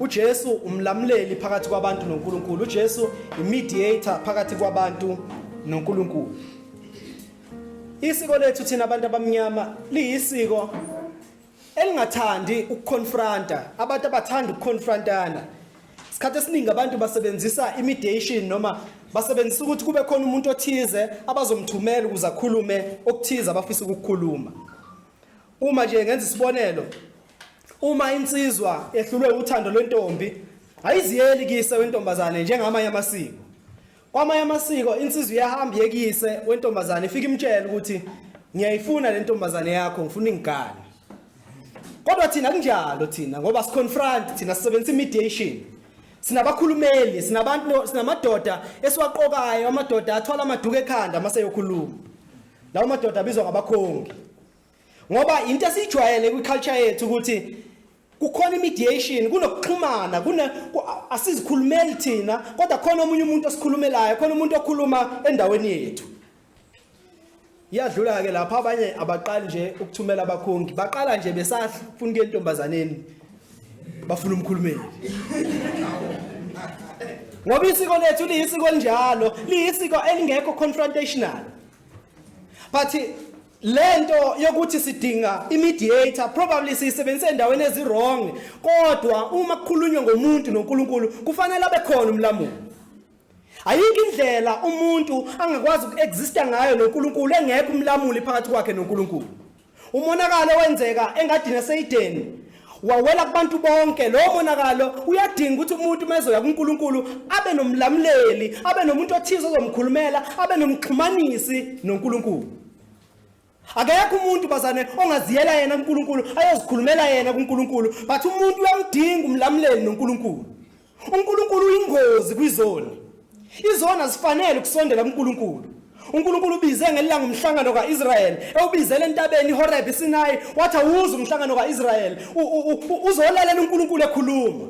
uJesu umlamuleli phakathi kwabantu noNkulunkulu uJesu imediator phakathi kwabantu noNkulunkulu isiko lethu thina abantu abamnyama liyisiko elingathandi ukuconfronta abantu abathanda ukuconfrontana isikhathi esiningi abantu basebenzisa imediation noma basebenzisa ukuthi kube khona umuntu othize abazomthumela ukuze akhulume okuthize abafisa ukukhuluma uma nje ngenza isibonelo Uma insizwa ehlulwe uthando lwentombi ayiziyeli kise wentombazane njengamanye amasiko. Kwamanye amasiko insizwa iyahamba yekise wentombazane ifike imtshela ukuthi ngiyayifuna le ntombazane yakho ngifuna ingane. Kodwa thina kunjalo thina ngoba siconfront thina sisebenzisa mediation. Sinabakhulumeli, sinabantu sinamadoda esiwaqokayo amadoda athola amaduka ekhanda mase yokhuluma. Lawo madoda abizwa ngabakhongi. ngoba into esijwayele kwiculture yethu ukuthi kukhona imediation kunokuxhumana kuna asizikhulumeli thina kodwa khona omunye umuntu osikhulumelayo khona umuntu okhuluma endaweni yethu iyadlula ke lapha abanye abaqali nje ukuthumela abakhongi baqala nje besafuna ke intombazaneni bafuna umkhulumeli ngoba isiko lethu liyisiko elinjalo liyisiko elingekho confrontational but lento yokuthi sidinga imediator probably siyisebenzise endaweni ezirong kodwa uma kukhulunywa ngomuntu noNkulunkulu kufanele abe khona umlamulo ayikho indlela umuntu angakwazi ukuexista ngayo noNkulunkulu engekho umlamuli phakathi kwakhe noNkulunkulu umonakalo wenzeka engadini eseYideni wawela kubantu bonke lowo monakalo uyadinga ukuthi umuntu uma ezoya kuNkulunkulu abe nomlamuleli abe nomuntu othize ozomkhulumela abe nomxhumanisi noNkulunkulu akekho umuntu bazane ongaziyela yena kuNkulunkulu ayozikhulumela yena kuNkulunkulu but umuntu uyamdinga umlamuleli noNkulunkulu uNkulunkulu uyingozi kwizoni izona zifanele ukusondela kuNkulunkulu uNkulunkulu ubize ngelanga umhlangano kaIsrael ewubizele entabeni iHoreb iSinai wathi awuze umhlangano kaIsrael uzolalela uNkulunkulu ekhuluma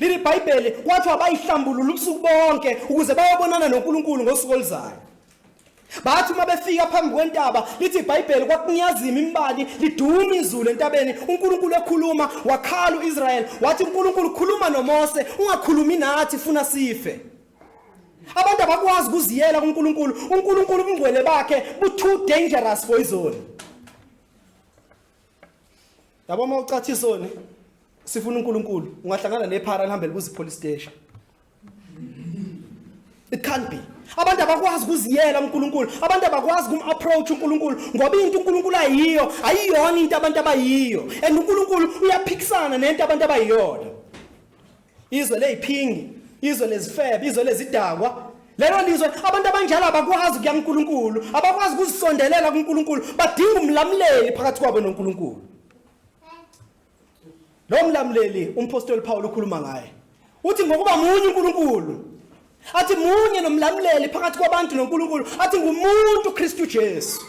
leli bhayibheli wathi wabayihlambulula ubusuku bonke ukuze bayobonana noNkulunkulu ngosuku oluzayo bathi uma befika phambi kwentaba lithi ibhayibheli kwakunyazima imbali liduma izulu entabeni unkulunkulu ekhuluma wakhala u-israyeli wathi unkulunkulu khuluma nomose ungakhulumi nathi funa sife abantu abakwazi ukuziyela kunkulunkulu unkulunkulu ubungcwele bakhe bu-too dangerous for izoni yabo uma ucathisa one sifuna unkulunkulu ungahlangana nephara lihambe libuza ipolice station it can't be abantu abakwazi ukuziyela uNkulunkulu abantu abakwazi kumapproach uNkulunkulu ngoba into uNkulunkulu ayiyo ayiyona into abantu abayiyo and uNkulunkulu uyaphikisana nento abantu abayiyona izwe leziphingi izwe lezifebe izwe lezidakwa lelo lizwe abantu abanjalo abakwazi kuya kuNkulunkulu abakwazi ukuzisondelela kuNkulunkulu badinga umlamuleli phakathi kwabo noNkulunkulu Lo mlamleli umphostoli Paul ukhuluma ngaye. Uthi ngokuba munye uNkulunkulu. Athi munye nomlamleli phakathi kwabantu noNkulunkulu. Athi ngumuntu uKristu Jesu.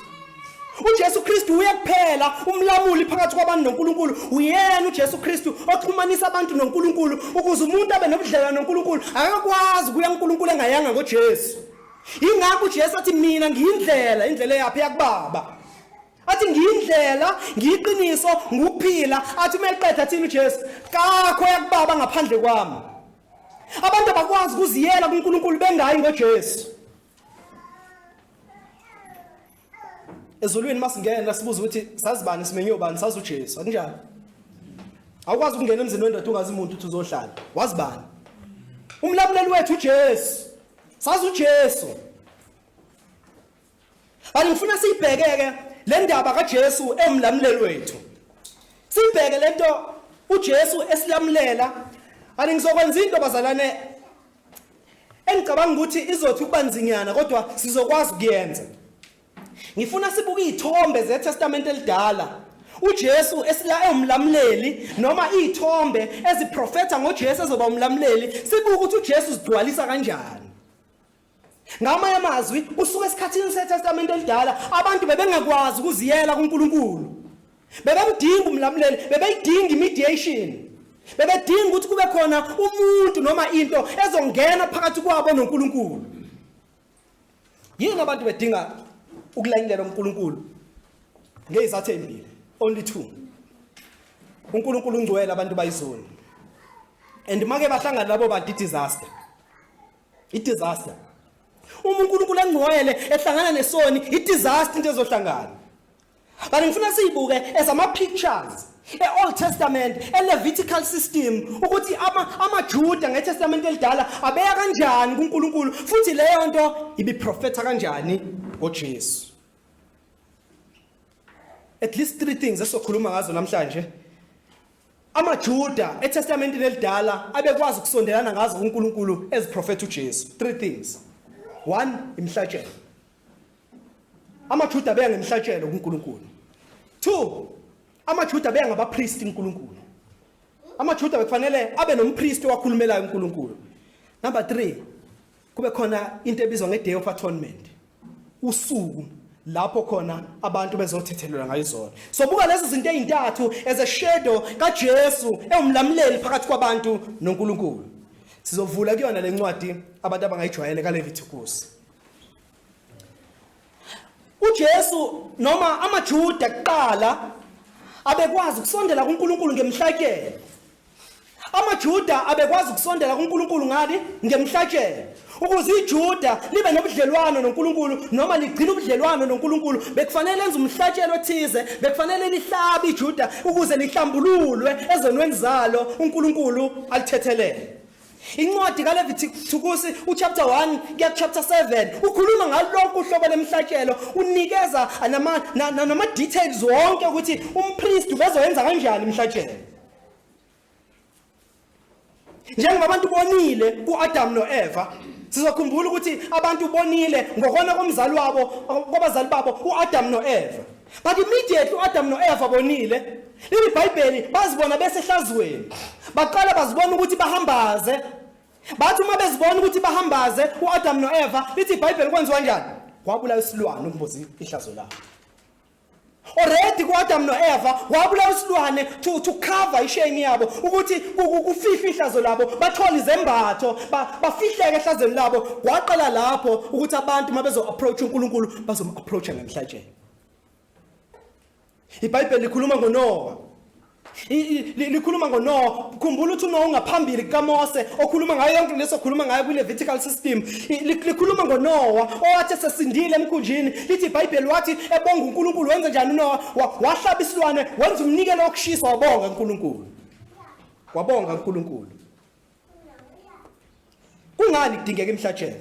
uJesu Kristu uye kuphela umlamuli phakathi kwabantu noNkulunkulu uyena uJesu Kristu oxhumanisa abantu noNkulunkulu ukuze umuntu abe nobudlelwane noNkulunkulu akakwazi kuya uNkulunkulu engayanga ngoJesu ingakho uJesu athi mina ngiyindlela indlela eyaphi yakubaba athi ngiyindlela ngiyiqiniso nguphila athi uma eqeda athini uJesu kakho yakubaba ngaphandle kwami abantu abakwazi ukuziyela kuNkulunkulu bengayi ngoJesu ezulwini masingena sibuza ukuthi sazibani simenyo bani sazi uJesu akunjalo awukwazi ukungena emzini wendoda ungazi umuntu uthi uzohlala wazibani umlamuleli wethu uJesu sazi uJesu Manje ngifuna siyibhekeke le ndaba kaJesu emlamuleli wethu. Sibheke lento uJesu esilamulela. Ani ngizokwenza into bazalwane engicabanga ukuthi izothi ukuba nzinyana kodwa sizokwazi ukuyenza. Ngifuna sibuke izithombe zeTestament elidala. uJesu esila ewumlamuleli noma izithombe eziprofetha ngoJesu ezoba umlamuleli sibuke ukuthi uJesu uzigcwalisa kanjani. Ngamanye amazwi, usuka esikhathini seTestamente elidala, abantu bebengakwazi ukuziyela kuNkulunkulu. Bebemdinga umlamuleli, bebeyidinga imediation. Bebedinga ukuthi kube khona umuntu noma into ezongena phakathi kwabo noNkulunkulu. Yini abantu bedinga ukulanyelwa uNkulunkulu? Ngezathu ezimbili, only two. uNkulunkulu ungcwele abantu bayizoni and make bahlangana labo bantu disaster idisaster uma uNkulunkulu engcwele ehlangana nesoni idisaster into ezohlangana kanti ngifuna siyibuke ezama pictures e-Old Testament e-Levitical system ukuthi ama amaJuda ngeTestament elidala abeya kanjani kuNkulunkulu futhi leyo nto ibiprofetha kanjani ngoJesu at least three things esokhuluma ngazo namhlanje AmaJuda eTestamentini elidala abekwazi ukusondelana ngazo kuNkulunkulu eziprofetha uJesu. Three things. One, imihlatshelo. AmaJuda beya ngemihlatshelo kuNkulunkulu. Two, amaJuda beya ngabapristi kuNkulunkulu. AmaJuda bekufanele abe nompristi owakhulumelayo uNkulunkulu. Number 3, Kube khona into ebizwa nge-day of atonement, usuku lapho khona abantu bezothethelelwa ngayizona so buka lezi zinto ezintathu as a shadow kaJesu ewumlamuleli phakathi kwabantu noNkulunkulu sizovula kuyona lencwadi abantu abangayijwayele kaLevitikusi uJesu noma amaJuda kuqala abekwazi ukusondela kuNkulunkulu ngemhlakelo AmaJuda abekwazi ukusondela kuNkulunkulu ngani? Ngemhlatshelo. Ukuze iJuda libe nobudlelwano noNkulunkulu noma ligcine ubudlelwano noNkulunkulu, bekufanele lenze umhlatshelo othize, bekufanele lihlabe iJuda ukuze lihlambululwe ezonweni zalo uNkulunkulu alithethelele. Incwadi kaLeviti thukusi uchapter 1 kuya kuchapter 7 ukhuluma ngalonke uhlobo lemhlatshelo unikeza nama nama details wonke ukuthi umpriest ubezoyenza kanjani imhlatshelo. njengoba abantu bonile ku-adamu no-eva sizokhumbula ukuthi abantu bonile ngokona komzali wabo kwabazali babo u-adamu no-eva but immediately u-adamu no-eva bonile leli bhayibheli bazibona besehlazweni baqala bazibona ukuthi bahambaze bathi uma bezibona ukuthi bahambaze u-adamu no-eva lithi ibhayibheli kwenziwa njani kwabula isilwane umbuzi ihlazo labo already ku-adamu no-eva wabulawa isilwane to, to cover ishame yabo ukuthi kufihlwe ihlazo labo bathole izembatho bafihleke ehlazweni labo waqala lapho ukuthi abantu uma bezo-approacha unkulunkulu bazom-approacha ngenhlatsheni ibhayibheli likhuluma ngonowa likhuluma ngoNoah khumbula ukuthi uNoah ungaphambili kukaMose okhuluma ngayo yonke leso khuluma ngayo kwiLevitical system likhuluma ngoNoah owathi esesindile emkhunjini lithi iBhayibheli wathi ebonga uNkulunkulu wenza njani uNoah wahlaba isilwane wenza umnikelo wokushisa wabonga uNkulunkulu wabonga uNkulunkulu kungani kudingeka imhlatshelo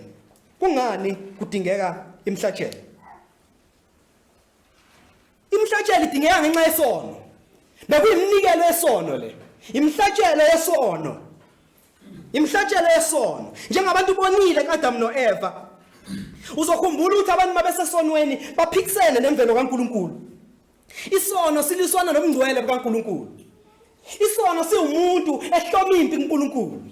kungani kudingeka imhlatshelo Imihlatshelo idingeka ngenxa yesono. Bekuyiminikelo yesono le. Imihlatshelo yesono. Imihlatshelo yesono. Njengabantu bonile kaAdam noEva. Uzokhumbula ukuthi abantu mabesesonweni baphikisene nemvelo kaNkuluNkulu. Isono siliswana nobungcwele bukaNkuluNkulu. Isono siwumuntu ehloma impi kuNkuluNkulu.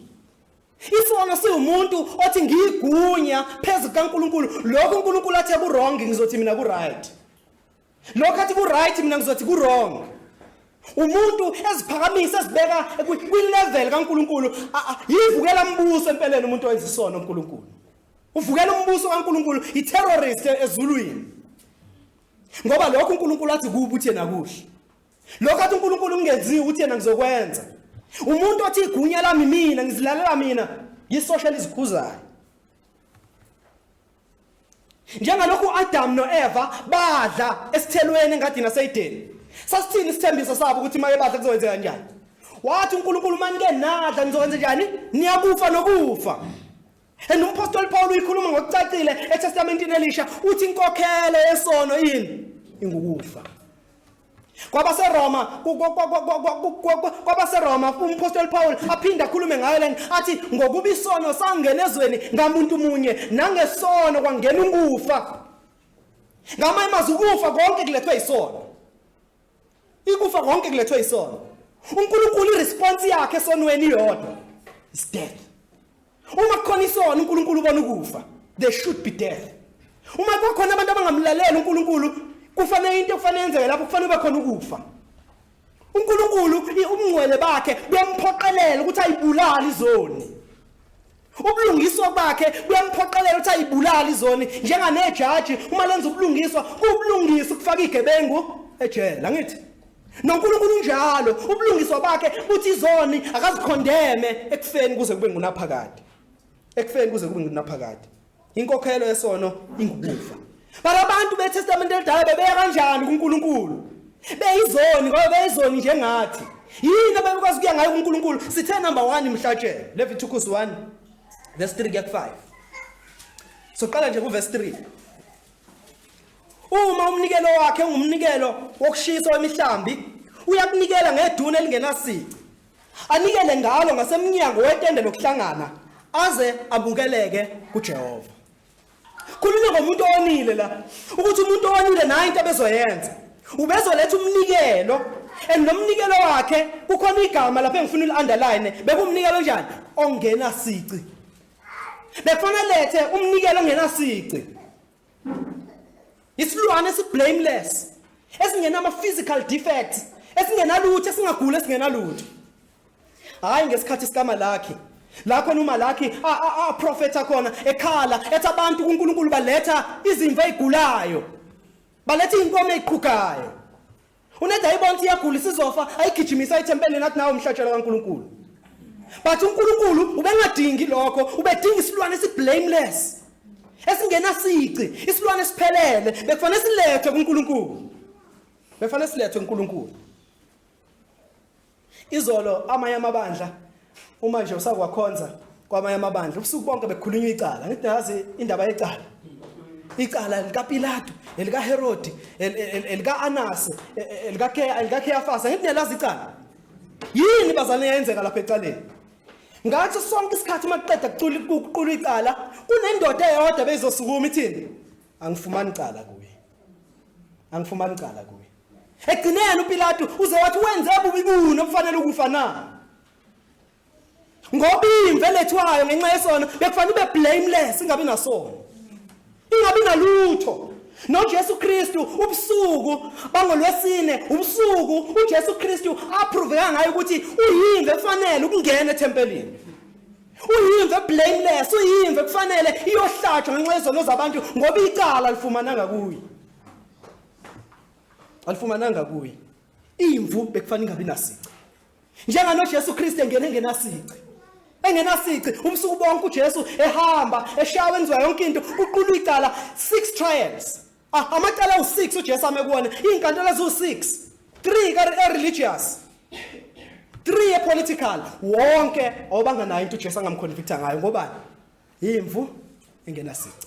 Isono siwumuntu othi ngiyigunya phezu kaNkuluNkulu lokho uNkuluNkulu athe kuwrong ngizothi mina kuright lokho athi kuright mina ngizothi kuwrong umuntu eziphakamisa ezibeka kwilevel kaNkuluNkulu yivukela umbuso empeleni umuntu owenza isono uNkuluNkulu uvukela umbuso kaNkuluNkulu iterrorist ezulwini ngoba lokho uNkuluNkulu athi kubuthi yena kuhle lokho athi unkulunkulu kungenziwa ukuthi yena ngizokwenza umuntu othi igunya lami mina ngizilalela mina yisosha lizikhuzayo njengalokhu uAdam noEva badla esithelweni engadini aseYideni sasithini isithembiso sabo ukuthi maye badla kuzokwenzeka kanjani wathi uNkulunkulu manike nadla nizokwenza njani niyakufa nokufa And umpostoli Paul uyikhuluma ngokucacile eTestamentini elisha uthi inkokhelo yesono yini ingukufa kwabaseroma kwabaseroma umpostoli paul aphinde akhulume ngayo lena athi ngokuba isono sangena ezweni ngamuntu munye nangesono kwangena ukufa ngamanye amazwi ukufa konke kulethwe isono ikufa konke kulethwe isono unkulunkulu iresponse yakhe esonweni iyodwa is death Uma kukhona isono uNkulunkulu ubona ukufa. There should be death. Uma kukhona abantu abangamlaleli uNkulunkulu kufanele into ekufanele yenzeke lapho kufanele ube khona ukufa. uNkulunkulu ubungcwele bakhe buyamphoqelela ukuthi ayibulale izoni ubulungiswa bakhe buyamphoqelela ukuthi ayibulale izoni njenganejaji uma lenza ubulungiswa kubulungisa ukufaka igebengu ejele angithi noNkulunkulu unjalo ubulungiswa bakhe buthi izoni akazikhondeme ekufeni kuze kube ngunaphakade ekufeni kuze kube ngunaphakade inkokhelo yesono ingukufa bara abantu betestamente elidala bebeya kanjani kuNkulunkulu beyizoni ngoba beyizoni njengathi yini ababekwazi kuya ngayo kuNkulunkulu sithe number 1 imhlatshelo Leviticus 1 verse 3 kuya 5 soqala nje ku verse 3 Uma umnikelo wakhe ungumnikelo wokushisa wemihlambi, uyakunikela ngeduni elingenasici. Anikele ngalo ngasemnyango wetende lokuhlangana aze abukeleke kuJehova. Khulunywa ngomuntu owonile la ukuthi umuntu owonile nayo into abezoyenza. Ubezoletha umnikelo and nomnikelo wakhe kukhona igama lapha engifuna uliunderline bekumnikelo njani ongenasici. Bekufanele lethe umnikelo ongenasici. Isilwane esiblameless esingenama physical defects esingenalutho esingagula esingenalutho. Hayi ngesikhathi sikama lakhe la khona umalakhi aprofetha khona ekhala ethi abantu kuNkulunkulu baletha izimvu ezigulayo baletha inkomo eziqhugayo uneda ayibona ukuthi iyagula isizofa ayigijimisa ethempelini athi nawo umhlatshelo kaNkulunkulu but uNkulunkulu ubengadingi lokho ubedinga isilwane esiblameless esingenasici isilwane esiphelele bekufanele silethwe kuNkulunkulu bekufanele silethwe kuNkulunkulu Izolo amanye amabandla uma nje usakwakhonza kwamanye amabandla ubusuku bonke bekukhulunywa icala ngithi nazi indaba yecala icala likaPilato elikaHerodi elikaAnase elikaKheyafasa ngithi niyalazi icala yini bazane yayenzeka lapha ecaleni ngathi sonke isikhathi uma kuqeda kucula ukuqula icala kunendoda eyodwa beyizosukuma ithini angifumani icala kuye angifumani icala kuye Egcineni uPilatu uze wathi wenze bubi buni okufanele ukufa na? Ngoba imve lethwayo ngenxa yesono bekufanele ube blameless ingabe nasono. Ingabe nalutho. NoJesu Kristu ubusuku bangolwesine ubusuku uJesu Kristu aproveka ngayo ukuthi uyimve efanele ukungena ethempelini. Uyimve blameless uyimve kufanele iyohlatshwa ngenxa yezono zabantu ngoba icala lifumananga kuye. alifumananga kuye imvu bekufanele ingabi nasici njengano Jesu Kristu engene engenasici engenasici umsuku bonke uJesu ehamba eshawa enziwa yonke into uqulu icala six trials ah, amacala u6 uJesu ame kuwona izinkantolo ezu6 3 ka religious 3 e political wonke obanganayo into uJesu angamconvicta ngayo ngoba imvu engenasici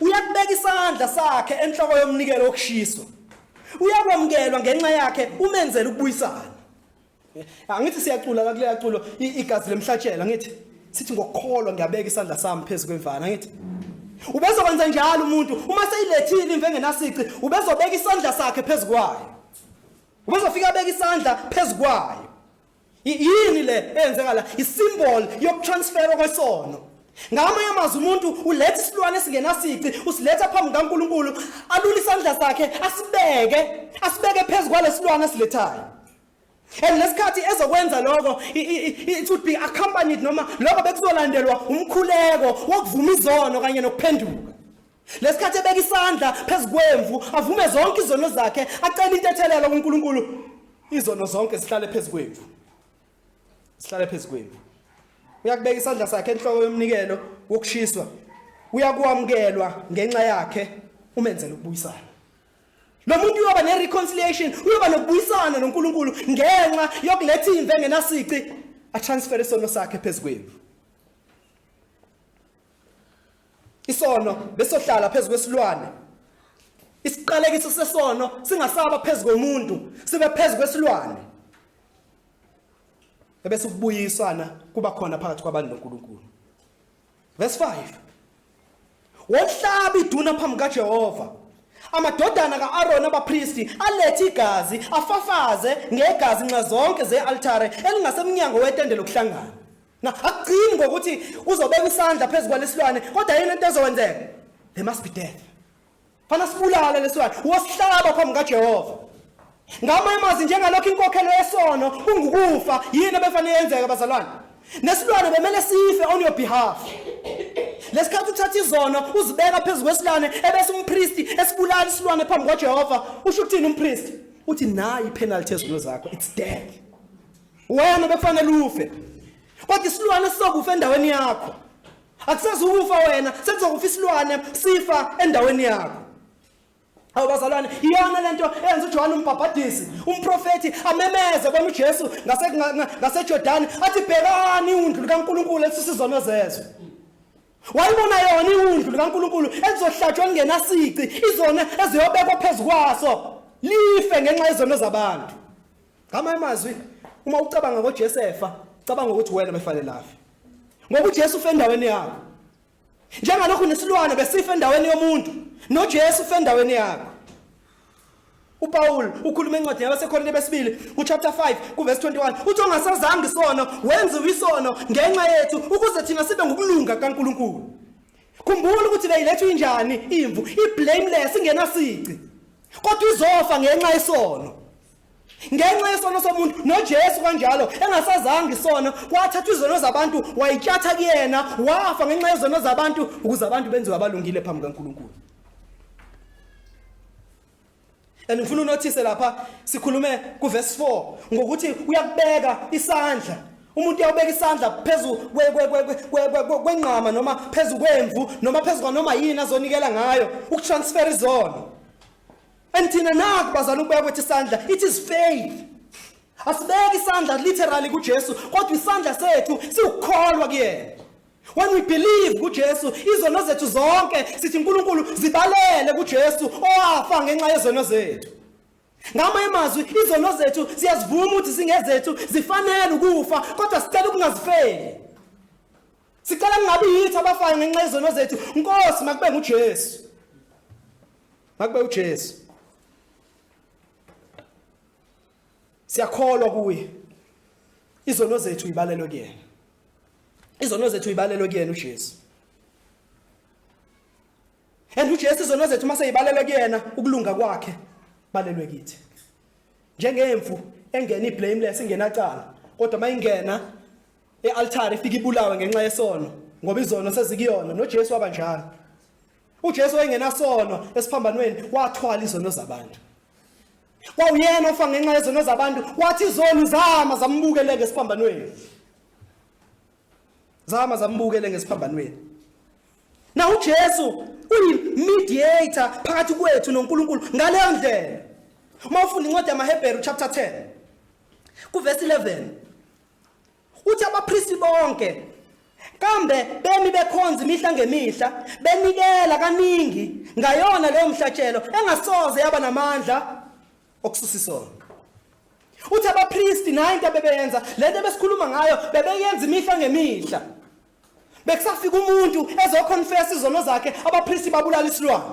Uyakubeka isandla sakhe enhloko yomnikelo wokushiswa. Uyakwamukelwa ngenxa yakhe umenzela ukubuyisana. Angithi siyacula la kuleya culo igazi lemhlatshela ngithi sithi ngokukholwa ngiyabeka isandla sami phezu kwemvana ngithi ubezokwenza njalo umuntu uma seyilethile imve engenasici ubezobeka isandla sakhe phezu kwayo ubezofika abeka isandla phezu kwayo yini le eyenzeka la isimboli yokutransferwa kwesono ngamanye amazwi umuntu uletha isilwane esingenasici usiletha phambi kukankulunkulu alule isandla sakhe asibeke asibeke phezu kwalesilwane asilethayo and lesikhathi ezokwenza lokho it would be accompanied noma lokho bekuzolandelwa umkhuleko wokuvuma izono kanye nokuphenduka Lesikhathi ebeka isandla phezu kwemvu, avume zonke izono zakhe, acela intethelelo kuNkulunkulu. Izono zonke zihlale phezu kwemvu. Zihlale phezu kwemvu. Uyakubeka isandla sakhe enhloko yomnikelo wokushiswa. Uyakwamkelwa ngenxa yakhe umenzela ukubuyisana. Lo muntu uyoba nereconciliation, uyoba nokubuyisana noNkulunkulu ngenxa yokuletha imve ngenasici, atransfer isono sakhe phezu kwemvu. Isono besohlala phezu kwesilwane. Isiqalekiso sesono singasaba phezu komuntu, sibe phezu kwesilwane. Ebese ukubuyisana kuba khona phakathi kwabantu noNkulunkulu. Verse 5. Wohlaba iduna phambi kaJehova. Amadodana kaArona abapristi alethe igazi afafaze ngegazi nxa zonke zealtare elingasemnyango wetende lokuhlangana. Na akugcini ngokuthi uzobeka isandla phezu kwalesilwane kodwa yini into ezokwenzeka? There must be death. Fana sibulale lesilwane, wosihlaba phambi kaJehova. Ngama imazi njengalokho inkokhelo yesono kungukufa yini ebefanele yenzeka bazalwane? Nesilwane bemele sife on your behalf. Lesikhathi uthatha izono uzibeka phezu kwesilwane ebese umpristi esibulala isilwane phambi kwaJehova, usho ukuthini umpristi? Uthi nayi penalty ezilo zakho, it's death. wena bekufanele ufe kodwa isilwane sizokufa endaweni yakho akusezukufa wena sekuzokufa isilwane sifa endaweni yakho Awu bazalwane iyona lento eyenza uJohane umbhabhadisi umprofeti amemeze kwami uJesu ngase ngaseJordan athi bhekani undlu kaNkuluNkulu elisisizono zezwe Wayibona yona iwundlu likaNkuluNkulu elizohlatshwa kungenasici izona eziyobekwa phezukwaso life ngenxa yezono zabantu Ngama amazwi uma ucabanga ngoJesefa, cabanga ukuthi wena befanelaphi. Ngoba uJesu ufe endaweni yakho. Njengalokhu nesilwane besifa endaweni yomuntu, noJesu ufe endaweni yakho. uPaul ukhuluma encwadini yabaseKorinte besibili kuchapter 5 kuverse 21 uthi ongasazanga isono wenziwe isono ngenxa yethu ukuze thina sibe ngokulunga kaNkuluNkulu khumbula ukuthi le ilethu injani imvu iblameless ingenasici kodwa izofa ngenxa yesono ngenxa yesono somuntu noJesu kanjalo engasazanga isono kwathatha izono zabantu wayityatha kuyena wafa ngenxa yezono zabantu ukuze abantu benziwe abalungile phambi kaNkulunkulu and ngifuna unothise lapha sikhulume kuverse 4 ngokuthi uyakubeka isandla umuntu uyawubeka isandla phezulu kwenqama noma phezulu kwemvu noma phezulu kwanoma yini azonikela ngayo ukutransfer izono and thina naku bazana ukubuya kwethu isandla it is faith asibeki isandla literally kuJesu kodwa isandla sethu siwukholwa kuyena when we believe kuJesu izono zethu zonke sithi uNkulunkulu zibalele kuJesu owafa ngenxa yezono zethu ngamanye amazwi izono zethu siyazivuma ukuthi singezethu zifanele ukufa kodwa sicela ukungazifeli sicela kungabi yithi abafayo ngenxa yezono zethu nkosi makube nguJesu Makube uJesu. Siyakholwa kuye. Izono zethu uyibalelwe kuyena. Izono zethu uyibalelwe kuyena uJesu. And uJesu izono zethu uma seyibalelwe kuyena ukulunga kwakhe balelwe kithi. Njengemvu engena iblameless ingenacala kodwa mayingena ealtar ifika ibulawe ngenxa yesono ngoba izono sezikuyona noJesu wabanjalo. uJesu wayengenasono esiphambanweni wathwala izono zabantu kwawuyena ofa ngenxa yezono zabantu wathi izoni zama zambukele ngesiphambanweni zama zambukele ngesiphambanweni na uJesu uyi-mediator phakathi kwethu noNkulunkulu ngaleyo ndlela uma ufunda incwadi yamaHebheru chapter 10 kuvesi 11 Uthi abapristi bonke kambe bemi bekhonza imihla ngemihla benikela kaningi ngayona leyo mhlatshelo engasoze yaba namandla okususa isono uthi abapristi nayo into abebeyenza le nto ebesikhuluma ngayo bebeyenza imihla ngemihla bekusafika umuntu ezokhonfesa izono zakhe abapristi babulala isilwane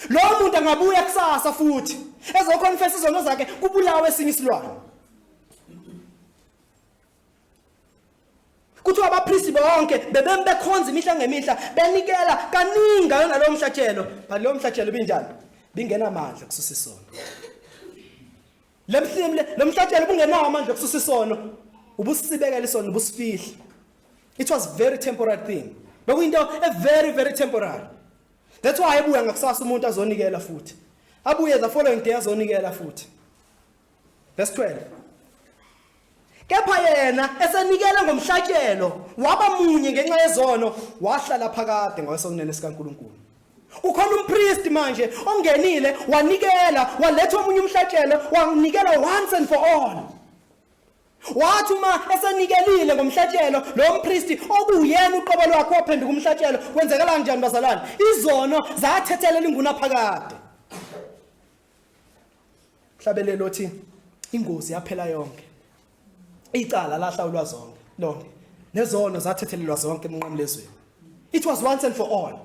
lowo muntu angabuya kusasa futhi ezokhonfesa izono zakhe kubulawe esinye isilwane kuthiwa abapristi bonke bebemi bekhonza imihla ngemihla benikela kaningi ngayo nalowo mhlatshelo but lowo mhlatshelo binjani bingenamandla kususa isono lemhlimle lo mhlatshelo ubungenawo amandla kususa isono ubusibekela isono ubusifihla it was very temporary thing bekuyinto a very very temporary that's why ebuya ngakusasa umuntu azonikela futhi abuye the following day azonikela futhi Verse 12. Kepha yena esenikele ngomhlatshelo waba munye ngenxa yezono wahlala phakade ngakwesokunene sikaNkuluNkulu. Ukhona umpriest manje ongenile wanikela waletha omunye umhlatshelo wanikela once and for all. Wathi uma esenikelile ngomhlatshelo lo mpristi okuyena uqobo lwakhe waphenduka umhlatshelo kwenzekala kanjani bazalwane? Izono zathethelela inguna phakade. hlabelelo othi ingozi yaphela yonke icala lahlawulwa zonke lonke nezono zathethelelwa zonke emnqamlezweni it was once and for all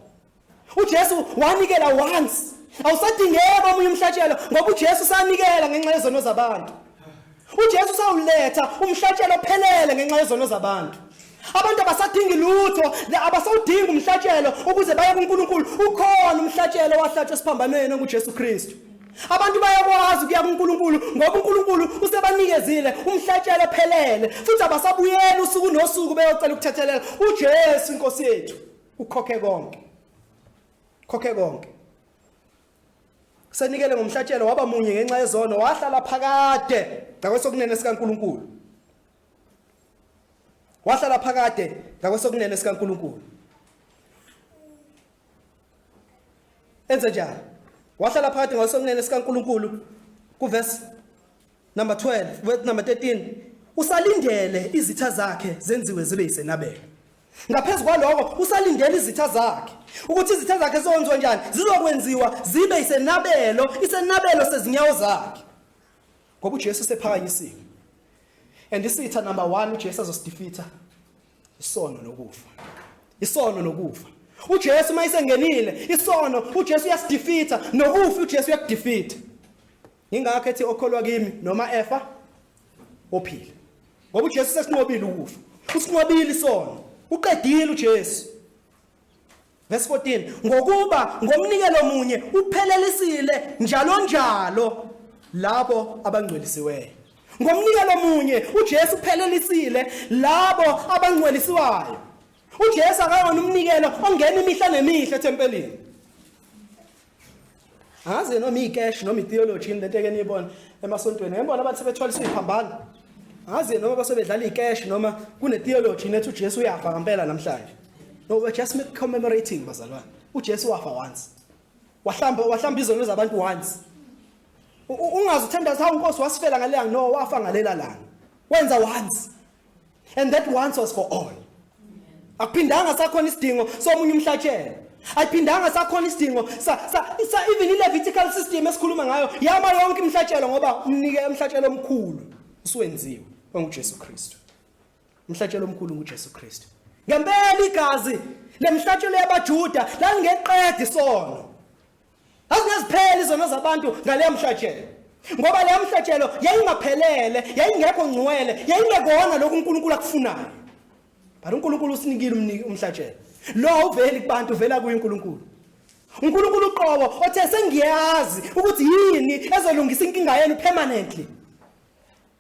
uJesu wanikela once awusadingeki omunye umhlatshelo ngoba uJesu sanikela ngenxa yezono zabantu uJesu usawuletha umhlatshelo ophelele ngenxa yezono zabantu abantu abasadingi lutho abasawudingi umhlatshelo ukuze baye kuNkulunkulu ukhona umhlatshelo wahlatshwa esiphambanweni onguJesu Kristu abantu bayakwazi ukuya kuNkulunkulu ngoba uNkulunkulu usebanikezile umhlatshelo ophelele futhi abasabuyeli usuku nosuku beyocela ukuthethelela uJesu inkosi yethu ukhokhe konke khokhe konke senikele ngomhlatshelo waba munye ngenxa yezono wahlala phakade ngakwesokunene sikaNkuluNkulu wahlala phakade ngakwesokunene sikaNkuluNkulu enze njani wahlala phakade ngakwesokunene sikaNkuluNkulu kuverse Number 12, verse number 13. Usalindele izitha zakhe zenziwe zibe isenabelo. Ngaphezulu kwaloko usalindele izitha zakhe ukuthi izitha zakhe zonzwe njani zizokwenziwa zibe isenabelo isenabelo sezinyawo zakhe. Ngoba uJesu sephakanyisiwe. And isitha number 1 uJesu azosdefeater isono nokufa. Isono nokufa. uJesu mayisengenile isono uJesu uyasidefeater nokufa uJesu uyakudefeater Ingakho ethi okholwa kimi noma efa ophila. Ngoba uJesu sesinqobile ukufa. Usinqobile isona. Uqedile uJesu. Verse 14 ngokuba ngomnikelo munye uphelelisile njalo njalo labo abangcwelisiweyo. Ngomnikelo munye uJesu uphelelisile labo abangcwelisiwayo. UJesu akayona umnikelo ongena imihla nemihle ethempelini. angazi noma icash noma itheology yini lento eke niyibona emasontweni ngebona abantu sebethwaliswa iphambana angazi noma basebedlala icash noma kune theology nethi uJesu uyafa ngempela namhlanje no we're just commemorating bazalwane uJesu wafa once wahlamba wahlamba izono zabantu once ungazi uthandaza hawu inkosi wasifela ngaleya no wafa ngalela langa wenza once and that once was for all akuphindanga sakhona isidingo somunye umhlatshelo ayiphindanga sakhona isidingo sa, sa, sa even i-levitical system esikhuluma ngayo yama yonke imhlatshelo ngoba umnike umhlatshelo omkhulu usuwenziwe ongujesu kristu umhlatshelo omkhulu ngujesu kristu ngempela igazi lemhlatshelo yabajuda lalingeqedi isono Azingazipheli izono zabantu ngaleya mhlatshelo. Ngoba leya mhlatshelo yayingaphelele, yayingekho ngcwele, yayingekona lokhu uNkulunkulu akufunayo. But uNkulunkulu usinikile umniki umhlatshelo. Lo uveli kubantu uvela kuye uNkulunkulu. uNkulunkulu uqobo othe sengiyazi ukuthi yini ezolungisa inkinga yenu permanently.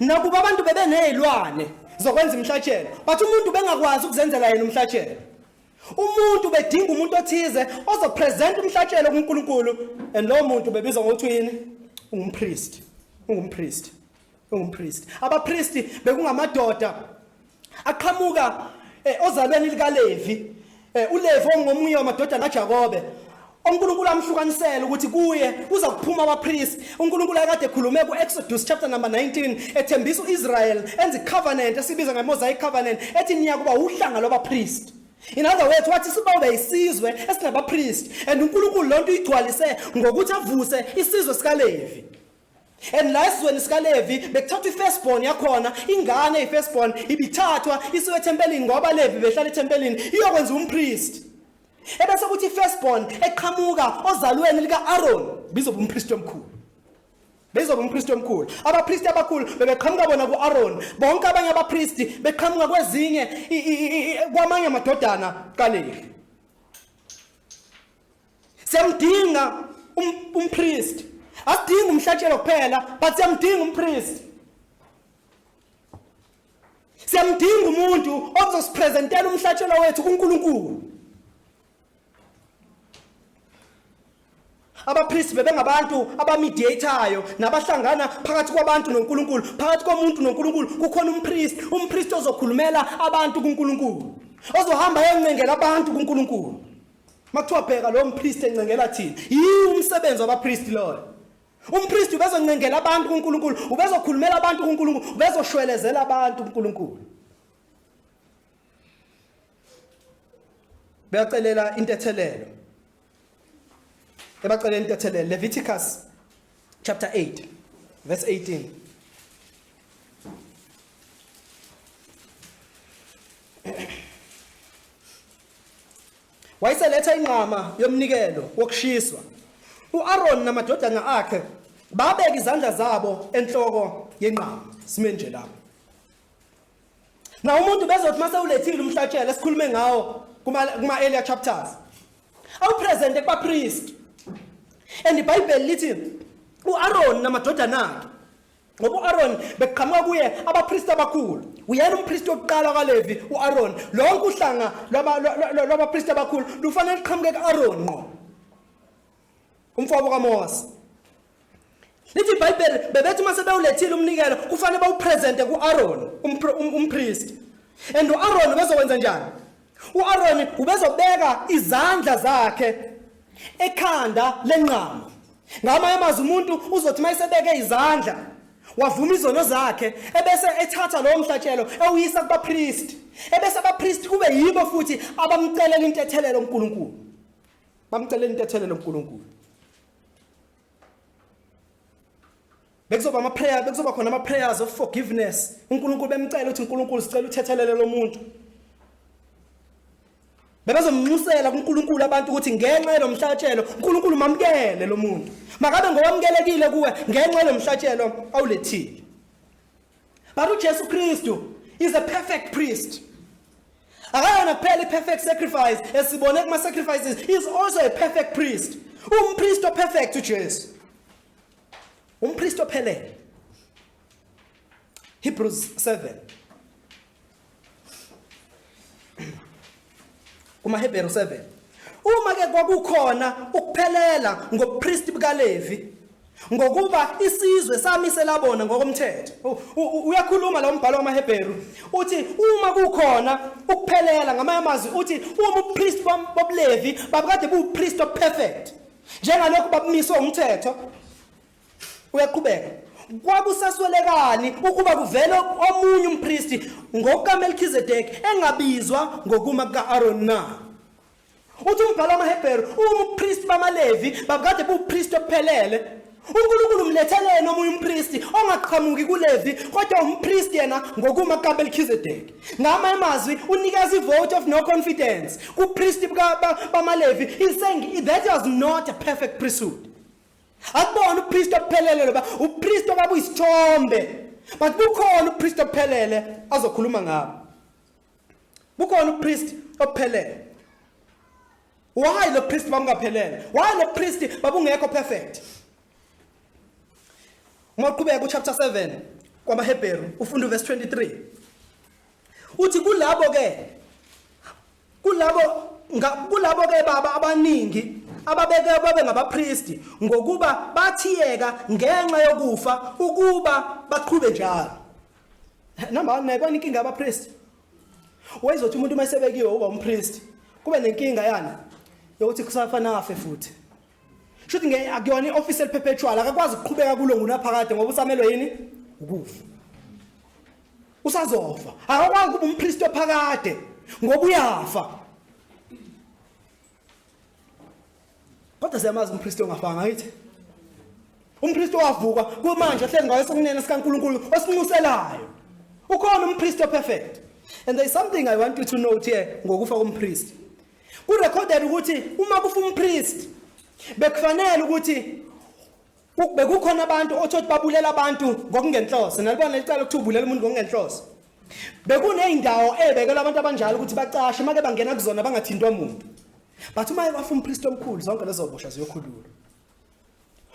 nakuba abantu bebenezilwane zokwenza imhlatshelo but umuntu bengakwazi ukuzenzela yena umhlatshelo umuntu bedinga umuntu othize ozopresent umhlatshelo kuNkulunkulu and lo muntu bebizwa ngokuthi yini ungumpriest ungumpriest ungumpriest abapriest bekungamadoda aqhamuka eh, ozalweni likaLevi eh, uLevi ongomunye wamadodana kaJakobe uNkulunkulu amhlukanisela ukuthi kuye kuza kuphuma abapriest uNkulunkulu akade ekhulume kuExodus chapter number 19 ethembisa uIsrael enza icovenant esibiza ngemosaic covenant ethi niya kuba uhlanga lwabapriest In other words wathi sibawube isizwe esinabapriest and uNkulunkulu lonto uyigcwalise ngokuthi avuse isizwe sikaLevi and la esizweni sikalevi bekuthathwa i-firstborn yakhona ingane i-firstborn ibithathwa isiwe ethempelini ngoba levi behlala ethempelini iyokwenza umpristi ebese kuthi i-firstborn eqhamuka ozalweni lika-aron bizoba umpristi omkhulu bezoba umpristi omkhulu abapristi abakhulu bebeqhamuka bona ku-aron bonke abanye abapristi beqhamuka kwezinye kwamanye amadodana kalevi Siyamdinga um- umpriest. Asidingi umhlatshelo kuphela, but siyamdinga umpriest. Siyamdinga umuntu ozosipresentela umhlatshelo wethu kuNkulunkulu. abapristi bebengabantu abamediatayo nabahlangana phakathi kwabantu noNkulunkulu phakathi komuntu noNkulunkulu kukhona umpristi umpristi ozokhulumela abantu kuNkulunkulu ozohamba eyoncengela abantu kuNkulunkulu Makuthiwa bheka lo mpriest encengela thina. Yi umsebenzi wabapriest loyo. Umpriest ubezoncengela abantu kuNkulunkulu, ubezokhulumela abantu kuNkulunkulu, ubezoshwelezela abantu kuNkulunkulu. Beyacelela intethelelo. Ebacelela intethelelo Leviticus chapter 8 verse 18. Wayeseletha inqama yomnikelo wokushiswa. U-Aroni namadodana akhe babeka izandla zabo enhloko yenqama. Sime nje lapho. Na umuntu bezothi mase ulethile umhlatshelo esikhulume ngawo kuma kuma earlier chapters. Awu present kuba priest. And iBhayibheli lithi uAron namadodana akhe ngoba u-aroni bekuqhamuka kuye abapristi abakhulu uyena umpristi wokuqala kalevi u-aroni lonke uhlanga lwabapristi abakhulu lufanele luqhamuke ku-aroni nqo umfowabo kamose lithi ibhayibheli bebethi uma sebewulethile umnikelo kufanele bawuprezente ku-aroni um, umpristi and u-aroni bezokwenza njani U-Aroni ubezobeka izandla zakhe ekhanda lenqama. Ngamanye amazwi umuntu uzothi uma esebeke izandla wavuma izono zakhe ebese ethatha lowo mhlatshelo ewuyisa kubapristi ebese abapristi kube yibo futhi abamcelela intethelelo uNkulunkulu bamcelela intethelelo uNkulunkulu bekuzoba ama prayer bekuzoba khona ama prayers of forgiveness uNkulunkulu bemcela ukuthi uNkulunkulu sicela uthethelele lo muntu bebezomnxusela kuNkulunkulu abantu ukuthi ngenxa yelomhlatshelo uNkulunkulu mamkele lo muntu makabe ngowamukelekile kuwe ngenxa yelomhlatshelo awulethile but uJesu Kristu is a perfect priest akayona kuphela i-perfect sacrifice esibone kuma-sacrifices is also a perfect priest umpriest operfect ujesu Umpristi ophelele. Hebrews 7. Kuma Hebrew 7. Uma ke kwakukhona ukuphelela ngobupristi bukaLevi ngokuba isizwe sami selabona ngokomthetho uyakhuluma lo mbhalo wamaHebheru uthi uma kukhona ukuphelela ngamanye amazwi uthi uma ubupriest bobulevi babukade buwupriest operfect njengalokhu babumiswe umthetho uyaqhubeka kwakusaswelekani ukuba kuvele omunye umpristi ngokukaMelchizedeki engabizwa ngokuma kuka-Aaron na uthi umbhalo wamaHebheru umpristi bamaLevi babukade buwupristi ophelele uNkulunkulu umletheleni omunye umpristi ongaqhamuki kuLevi kodwa umpristi yena ngokuma kaMelchizedeki ngama emazwi unikeza ivote of no confidence kupristi bamaLevi he saying that was not a perfect priesthood akubona upristi ophelele loba upristi obaba uyisithombe but kukhona upristi ophelele azokhuluma ngabo kukhona upristi ophelele Why lo priest bamkaphelele? Why lo priest babungekho perfect? Uma uqhubeka uchapter 7 kwabaHebheru ufunda uverse 23. Uthi kulabo ke kulabo kulabo ke baba abaningi ababeke babe ngabapristi ngokuba bathiyeka ngenxa yokufa ukuba baqhube njalo. Number 1 nayikwani inkinga yabapristi Wayezothi umuntu uma esebekiwe uba umpriest kube nenkinga yani yokuthi kusafanele afe futhi. Shuthi ngeke akuyona ioffice eliperpetual akakwazi ukuqhubeka kulo ngunaphakade ngoba usamelwe yini ukufa. Usazofa. Akakwazi ukuba umpriest ophakade ngoba uyafa. kodwa siyamazi umpristi ongafanga yithi umpristi owavuka kumanje ohlezi ngayo sokunene sikaNkuluNkulu osinxuselayo ukhona umpristi operfect and there is something i want you to note here ngokufa kompristi kurecorded ukuthi uma kufa umpristi bekufanele ukuthi Ukube kukhona abantu othi othi babulela abantu ngokungenhloso, nalibona licala ukuthi ubulela umuntu ngokungenhloso. Bekuneyindawo ebekelwe abantu abanjalo ukuthi bacashe make bangena kuzona bangathintwa muntu. But uma wafa umpriest omkhulu zonke lezo bosha ziyokhululwa.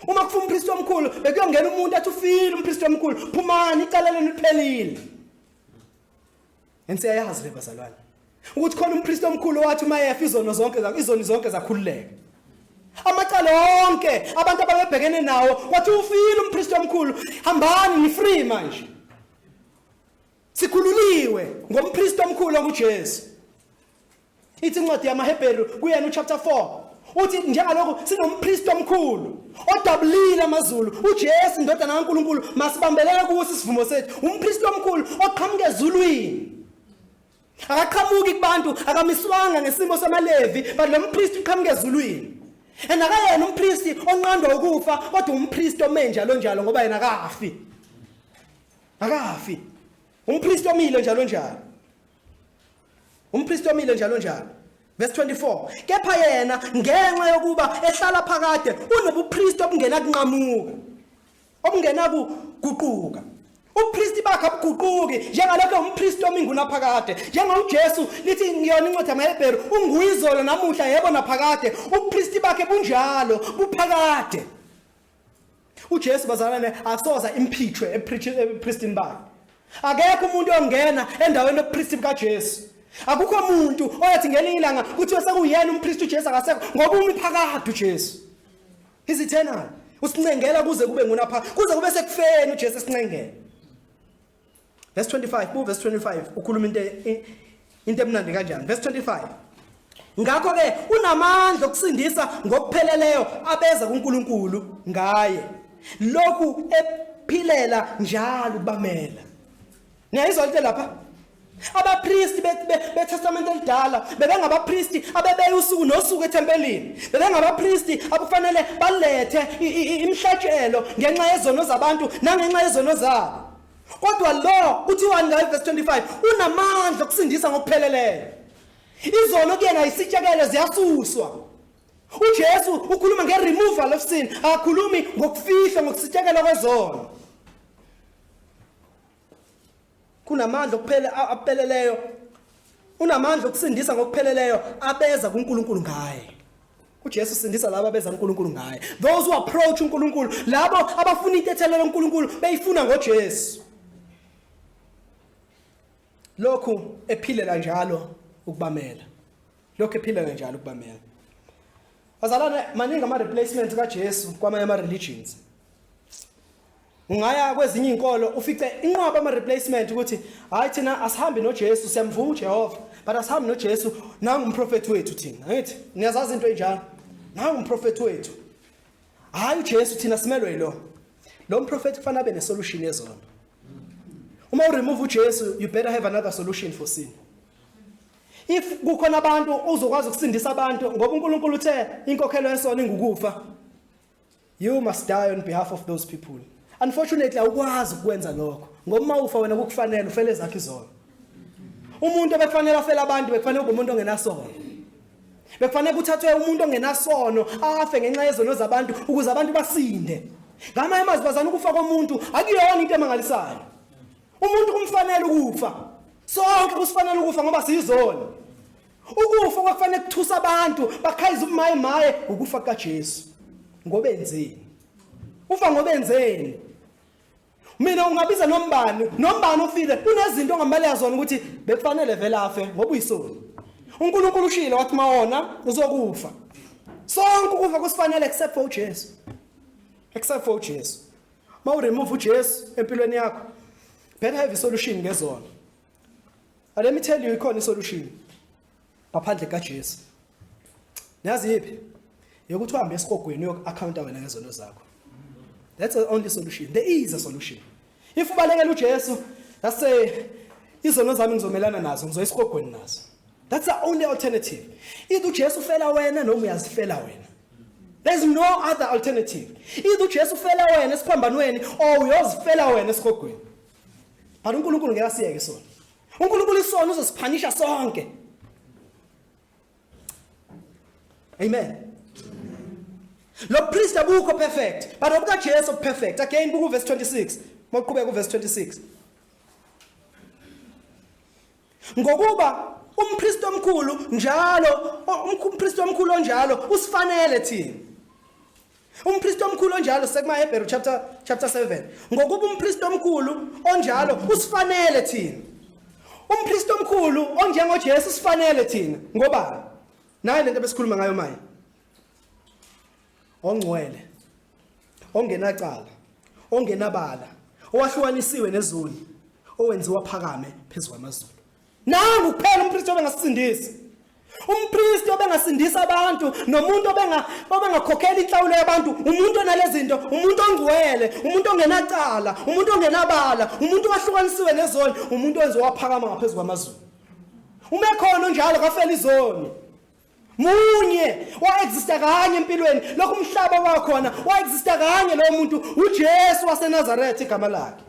Uma kufa umpriest omkhulu bekuyongena umuntu athi ufile umpriest omkhulu phumani icala lenu liphelile. And siyayazi le bazalwane ukuthi khona umpristi omkhulu owathi uma efa izono zonke zakho izoni zonke zakhululeka. Amacala onke abantu ababebhekene nawo wathi ufile umpristi omkhulu hambani ni free manje. Sikhululiwe ngompristi omkhulu onguJesu. Ithi incwadi yamaHebheru kuyena uchapter 4 uthi njengalokhu sinompristi omkhulu odabulile amazulu uJesu indodana kaNkuluNkulu masibambelele kuwo isivumo sethu umpristi omkhulu oqhamuke ezulwini akaqhamuki kubantu akamiswanga ngesimo samaLevi but lo mpristi uqhamuke ezulwini and akayena umpristi onqandwa ukufa kodwa umpristi ome njalo njalo ngoba yena akafi akafi umpristi omile njalo njalo Umpristi omile njalo njalo. Verse 24. Kepha yena ngenxa yokuba ehlala phakade unobupristi obungena kunqamuka. Obungena kuguquka. Ubupristi bakhe abuguquki njengalokho umpristi ominguna phakade. NjengoJesu lithi ngiyona incwadi yamaHebheru unguyizolo namuhla yebo naphakade. Ubupristi bakhe bunjalo buphakade. uJesu bazalana ne asoza imphithwe epristini bakhe akekho umuntu ongena endaweni yobupristi bukaJesu akukho umuntu oyathi ngelinye ilanga kuthiwa sekuyena umpristi uJesu akasekho ngoba umi phakade uJesu is eternal usincengela kuze kube ngunapha kuze kube sekufeni uJesu esincengela Verse 25, bu verse 25 ukhuluma into into emnandi kanjani? Verse 25. Ngakho ke unamandla okusindisa ngokupheleleyo abeza kuNkulunkulu ngaye. Lokhu ephilela njalo kubamela. Niyayizwa into lapha? Abapristi beTestamente elidala bebengabapristi abebeya usuku nosuku ethempelini. Bebengabapristi abufanele balethe imihlatshelo ngenxa yezono zabantu nangenxa yezono zabo. Kodwa lo kuthiwani ngayo verse 25 unamandla okusindisa ngokupheleleyo. Izono kuyena isitshekele ziyasuswa. UJesu ukhuluma ngeremoval of sin, akakhulumi ngokufihlwa ngokusitshekela kwezono. kunamandla okuphele apheleleyo unamandla okusindisa ngokupheleleyo abeza kuNkulunkulu ngaye uJesu sindisa laba beza kuNkulunkulu ngaye those who approach uNkulunkulu labo abafuna intethelelo loNkulunkulu beyifuna ngoJesu lokhu ephilela njalo ukubamela lokhu ephilela njalo ukubamela bazalwane maningi ama replacement kaJesu kwamanye ama religions Ungaya kwezinye izinkolo ufice inqwaba ama replacement ukuthi hayi thina asihambi noJesu siyamvuma uJehova but asihambi noJesu nangu umprofeti wethu thina ngithi niyazazi into enjalo nangu umprofeti wethu hayi uJesu thina simelwe yilo lo mprofeti kufanele abe nesolution yezona uma u remove uJesu you better have another solution for sin if kukhona abantu uzokwazi ukusindisa abantu ngoba uNkulunkulu uthe inkokhelo yesono ingukufa You must die on behalf of those people. Unfortunately awukwazi ukwenza lokho ngoba uma ufa wena kukufanele ufele zakhe izono. Umuntu obekufanele afele abantu bekufanele kube umuntu ongenasono. Bekufanele kuthathwe umuntu ongenasono afe ngenxa yezono zabantu ukuze abantu basinde. Ngamanye amazwi bazana ukufa komuntu akuyona into emangalisayo. Umuntu kumfanele ukufa. Sonke kusifanele ukufa ngoba siyizono. Ukufa kwakufanele kuthusa abantu bakhayiza umaye maye ukufa kaJesu. Ngoba enzeni? Ufa ngoba enzeni? Mina ungabiza nombani, nombani ofile kunezinto ongamale yazona ukuthi bekufanele vele afe ngoba uyisoni. uNkulunkulu ushilo wathi mawona uzokufa. Sonke ukufa kusifanele except for uJesu. Except for uJesu. Mawuremove uJesu empilweni yakho. Better have a solution ngezona. Let me tell you ikhona isolution ngaphandle kaJesu. Nazi yiphi? Yokuthi uhambe esigogweni uyoku-accounta wena ngezono zakho. That's the only solution. There is a solution. If ubalekela uJesu, that's say izono zami ngizomelana nazo, ngizoya esigogweni nazo. That's the only alternative. Either uJesu ufela wena noma uyazifela wena. There's no other alternative. Either uJesu ufela wena esiphambanweni or uyozifela wena esigogweni. but uNkulunkulu ngeke asiyeke sona uNkulunkulu isona uzosiphanisha sonke amen lo priest abukho perfect but obuka Jesu perfect again buku verse 26 moqhubeka ku verse 26 Ngokuba umKristu omkhulu njalo umKristu omkhulu onjalo usifanele thina. UmPriest omkhulu onjalo sekuma Hebrew chapter chapter 7 ngokuba umPriest omkhulu onjalo usifanele thina. UmPriest omkhulu onjengo Jesu usifanele thina ngoba nayo lento besikhuluma ngayo manje. ongcwele ongenacala ongenabala owahlukanisiwe nezulu owenziwa phakame phezu kwamazulu nangu kuphela umpristi obengasisindisa umpristi obengasindisa abantu nomuntu obenga obengakhokhela inhlawulo yabantu umuntu onalezi zinto umuntu ongcwele umuntu ongenacala umuntu ongenabala umuntu owahlukanisiwe nezoni umuntu owenze waphakama ngaphezu kwamazulu uma ekhona onjalo kafela izoni munye waexista kanye empilweni lokho umhlaba wakhona waexista kanye lowo muntu uJesu waseNazaretha igama lakhe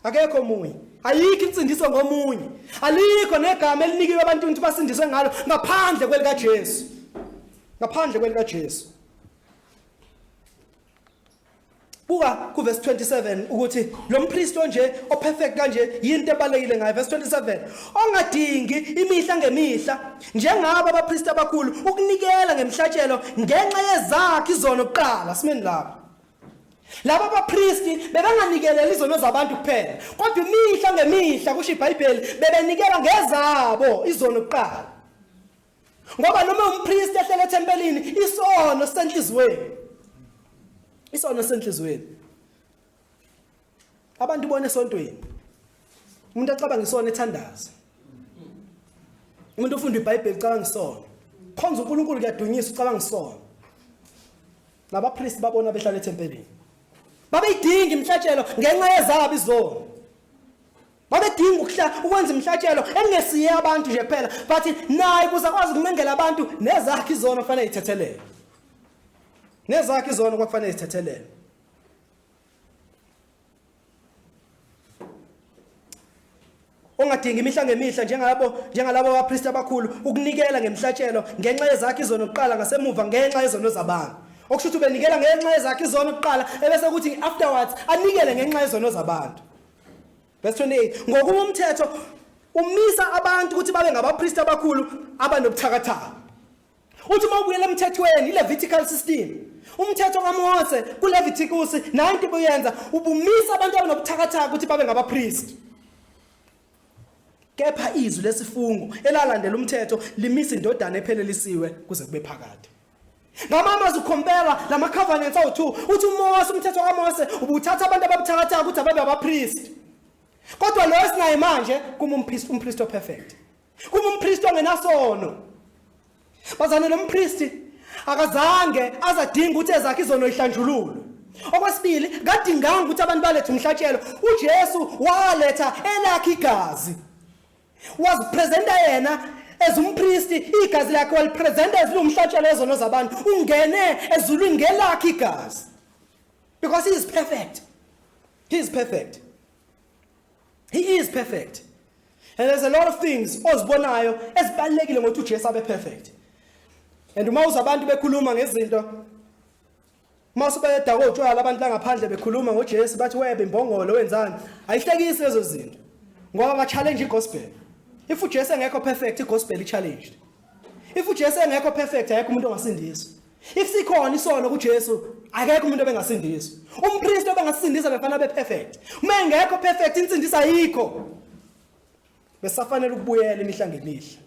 akekho omunye ayikho insindiso ngomunye alikho negama elinikiwe abantu ukuthi basindiswe ngalo ngaphandle kwelika Jesu ngaphandle kwelika Jesu buka kuverse 27 ukuthi lo mpristi onje operfect kanje yinto ebalekile ngayo verse 27 ongadingi imihla ngemihla njengabo abapristi abakhulu ukunikela ngemhlatshelo ngenxa yezakhe izono kuqala simeni lapho laba bapristi bebanganikeleli izono zabantu kuphela kodwa imihla ngemihla kusho ibhayibheli bebenikela ngezabo izono kuqala Ngoba noma umpriest ehlela ethempelini isono senhlizweni. Isono senhlizweni. Abantu bone esontweni. Umuntu acabanga isona ethandaza. Umuntu ofunda iBhayibheli ucabanga isona. Khonza uNkulunkulu kuyadunyisa ucabanga isona. Nabapriest babona behlala ethempelini. Babeyidinga imhlatshelo ngenxa yezabo izono. babedinga ukuhla ukwenza imhlatshelo engesiye abantu nje kuphela but naye kuze akwazi ukunengela abantu nezakhe izona kufanele ithethelele nezakhe izona kwakufanele ithethelele ongadingi imihla ngemihla njengalabo njengalabo abapristi abakhulu ukunikela ngemhlatshelo ngenxa yezakhe izono kuqala ngasemuva ngenxa yezono zabantu okusho ukuthi ubenikela ngenxa yezakhe izono kuqala ebese kuthi afterwards anikele ngenxa yezono zabantu Verse 28 ngokuba umthetho umisa abantu ukuthi babe ngabapristi abakhulu abanobuthakathaka. Uthi uma ubuyela emthethweni iLevitical system umthetho kaMose kuLevitikus nayo into obuyenza ubumisa abantu abanobuthakathaka ukuthi babe ngabapristi. Kepha izwi lesifungo elalandela umthetho limisa indodana ephelelisiwe kuze kube phakade. ngamanye amazwi ukhompera la ma-covenants awu-two uthi umose umthetho kamose ubuthatha abantu ababuthakathaka ukuthi ababe abapristi kodwa loyo esinaye manje kuma umpristi operfect kuma umpristi ongenasono bazane lo mpristi akazange azadinga ukuthi ezakhe izono ihlanjululwe okwesibili kadinganga ukuthi abantu balethe umhlatshelo ujesu waletha elakhe igazi wazipresenta yena as umpristi igazi lakhe walipresenta as liwumhlatshelo wezono zabantu ungene ezulwini ngelakhe igazi because he is perfect he is perfect he is perfect and there's a lot of things ozibonayo ezibalekile ngokuthi uJesu abe perfect and uma uzabantu bekhuluma ngezinto Mase bayadakwa utshwala abantu la ngaphandle bekhuluma ngoJesu bathi webe imbongolo wenzani. Ayihlekisi lezo zinto. Ngoba ba challenge igospel. If uJesu engekho perfect igospel i challenge. If uJesu engekho perfect ayekho umuntu ongasindiswa. If sikhona isono kuJesu akekho umuntu obengasindiswa. Umpriest obengasindisa befana be perfect. Uma engekho perfect insindisa ayikho. Besafanele ukubuyela imihla ngemihla.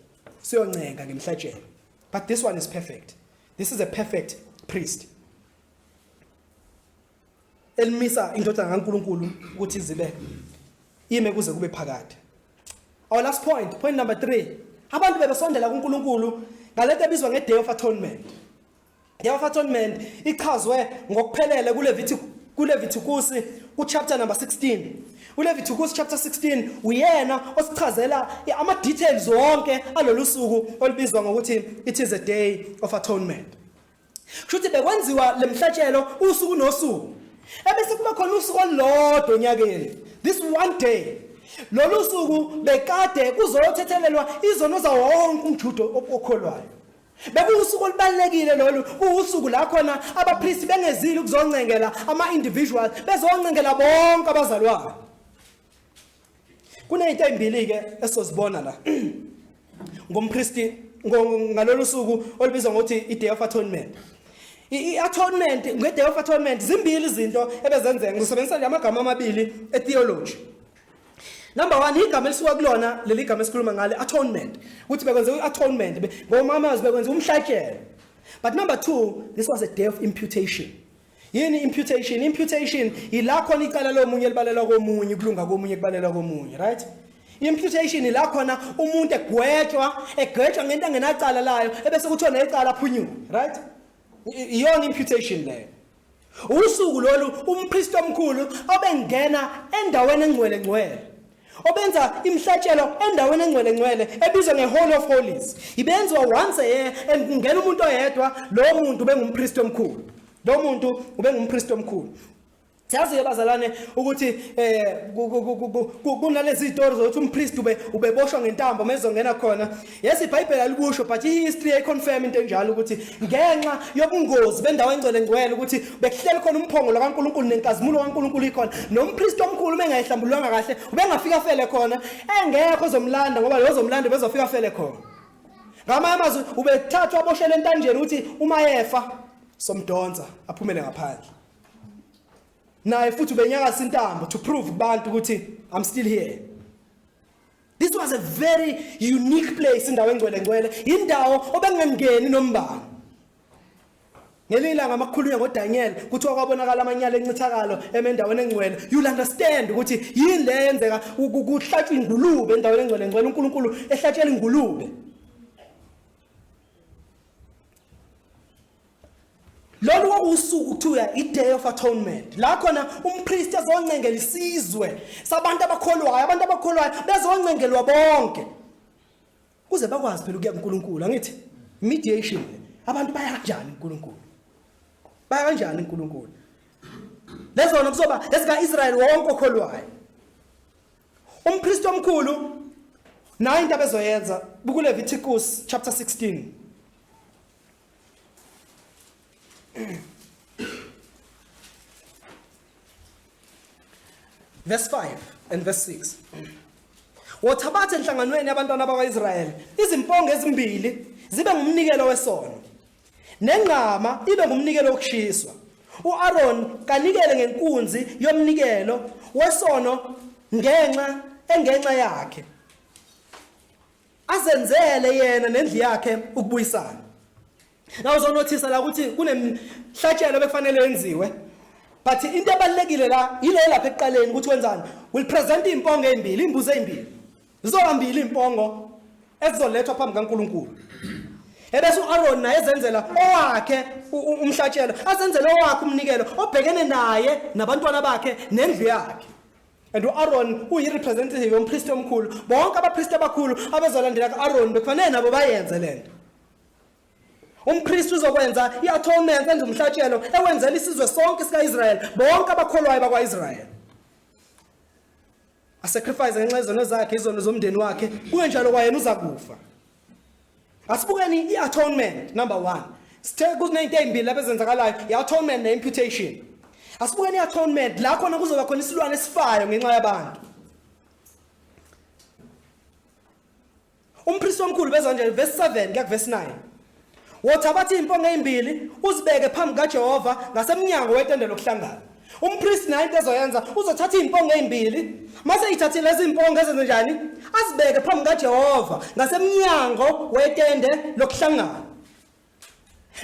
Siyoncenga ngemihlatshelo. But this one is perfect. This is a perfect priest. Elimisa indodana kaNkuluNkulu ukuthi izibe ime kuze kube phakade. Our last point, point number 3. Abantu bebesondela kuNkuluNkulu ngalento ebizwa ngeDay of Atonement. Yehova Atonement ichazwe ngokuphelele kuLevithiku kuLevithukusi kuchapter number 16 uLevithukusi chapter 16 uyena osichazela ama details wonke alolu suku olubizwa ngokuthi it is a day of atonement Shuthi bekwenziwa lemhlatshelo usuku nosuku ebese kuba khona usuku olulodwa onyakeni this one day lolu suku bekade kuzothethelelwa izono zawo wonke umjudo okholwayo Bekuwusuku olubalulekile lolu kuwusuku la khona abapristi bengezile ukuzoncengela ama-individual bezoncengela bonke abazalwane kuneyinto ezimbili-ke esizozibona la ngompristi ngalolu suku olubizwa ngokuthi i-day of atonement i-atonement nge-day of atonement zimbili izinto ebezenzeka ngizosebenzisa nje amagama amabili etheology Number 1 igama elisuka kulona leli gama esikhuluma ngale atonement ukuthi bekwenze uatonement ngomama azibekwenza umhlatshelo but number 2 this was a day of imputation yini imputation imputation ila khona icala lomunye libalelwa komunye kulunga komunye kubalelwa komunye right imputation ila khona umuntu egwetshwa egwetshwa ngento engenacala layo ebese kuthiwa necala aphunyuke right iyona imputation leyo Usuku lolu umpristi omkhulu obengena endaweni engcwele ngcwele obenza imhlatshelo endaweni engcwele ngcwele ebizwa ngeHall of Holies ibenziwa once a year and kungena umuntu oyedwa lo muntu bengumpristi omkhulu lo muntu ubengumpristi omkhulu Siyazi ke bazalwane ukuthi eh kunalezi zitori zokuthi umpriest ube ubeboshwa ngentambo mezongena khona Yazi iBhayibheli alikusho but ihistory yayiconfirm into enjalo ukuthi ngenxa yobungozi bendawo engcwele ngcwele ukuthi bekuhleli khona umphongolo kaNkuluNkulu nenkazimulo kaNkuluNkulu ikhona nompriest omkhulu bengayihlambululanga kahle ubengafika fele khona engekho ozomlanda ngoba lo ozomlanda bezofika fele khona ngamanye amazwi ubethathwa aboshele entanjeni ukuthi uma yefa somdonsa aphumele ngaphandle naye futhi ubenyakasa intambo to prove kubantu ukuthi i'm still here This was a very unique place indawo engcwele ngcwele indawo obengangeni nombani Ngelinye ilanga amakhulunywa ngoDaniel kuthiwa kwabonakala amanyala encithakalo emendaweni engcwele you'll understand ukuthi yini le yenzeka kuhlatshwa ingulube endaweni engcwele ngcwele uNkulunkulu ehlatshela ingulube lolu kwakuwusuku kuthiwa i-day of atonement la khona umpristi ezoncengela isizwe sabantu abakholwayo abantu abakholwayo bezoncengelwa bonke kuze bakwazi phela ukuya kuNkulunkulu angithi mediation abantu baya kanjani kuNkulunkulu baya kanjani kuNkulunkulu lezona kuzoba esika Israel wonke okholwayo umpristi omkhulu nayo into abezoyenza bukuLevitikus chapter 16 Verse 5 and verse 6. Wothabathe enhlanganweni yabantwana bakwaIsrael izimpongo ezimbili zibe ngumnikelo wesono. Nengqama ibe ngumnikelo wokushiswa. UAron kanikele ngenkunzi yomnikelo wesono ngenxa engenxa yakhe. azenzele yena nendlu yakhe ukubuyisana la uzonothisa la ukuthi kunemhlatshelo bekufanele yenziwe but into ebalekile la yile lapha ekuqaleni ukuthi wenzani will present impongo ezimbili imbuzo ezimbili zizohambile impongo ezizolethwa phambi kaNkuluNkulu ebese uAron naye ezenzela owakhe umhlatshelo azenzele owakhe umnikelo obhekene naye nabantwana bakhe nendlu yakhe and u-aroni uyi-representative yompristi omkhulu bonke abapristi abakhulu abezolandela ku-aroni bekufanele nabo bayenze le nto umpristi uzokwenza i-atonement enza umhlatshelo ewenzela isizwe sonke sika-israyeli bonke abakholwayo bakwa-israyeli asacrifice ngenxa yezono zakhe izono zomndeni wakhe kungenjalo kwayena uza kufa asibukeni i-atonement number one sithe kuzinento ey'mbili lapho ezenzakalayo i-atonement ne-imputation asibukeni i-atonement la khona kuzoba khona isilwane esifayo ngenxa yabantu umpristi omkhulu beza nje verse 7 kuya kuvesi 9 Wothabatha iy'mpongo ey'mbili uzibeke phambi kaJehova ngasemnyango wetende lokuhlangana. Umpristi naye into ezoyenza uzothatha iy'mpongo ey'mbili mase eyithathile lezi mpongo ezenze njani azibeke phambi kaJehova ngasemnyango wetende lokuhlangana.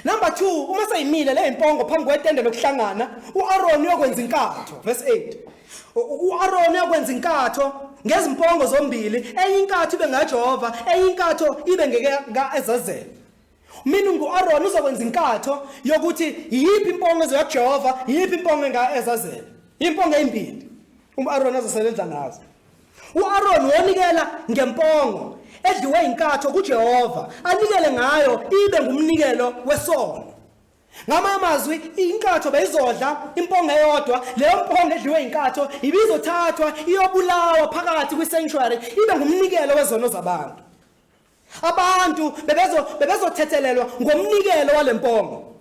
Number 2 uma seyimile le mpongo phambi kwetende lokuhlangana uAron uyokwenza inkatho verse 8 U-Aroni uyokwenza inkatho ngezimpongo zombili, enye inkatho ibe ngaJehova, enye inkatho ibe ngeka-Ezazeli. Mina ngu-Aroni uzokwenza inkatho yokuthi yiphi impongo ezoya kuJehova, yiphi impongo enga-Ezazeli. Impongo ezimbili u-Aroni azosebenza ngazo. U-Aroni wonikela ngempongo edliwe inkatho kuJehova, anikele ngayo ibe ngumnikelo wesono. Ngamanye amazwi inkatho beyizodla impongo eyodwa leyo mpongo edliwe inkatho ibizothathwa iyobulawa phakathi kwi-sanctuary ibe ngumnikelo wezono zabantu abantu bebezo bebezothethelelwa ngomnikelo walempongo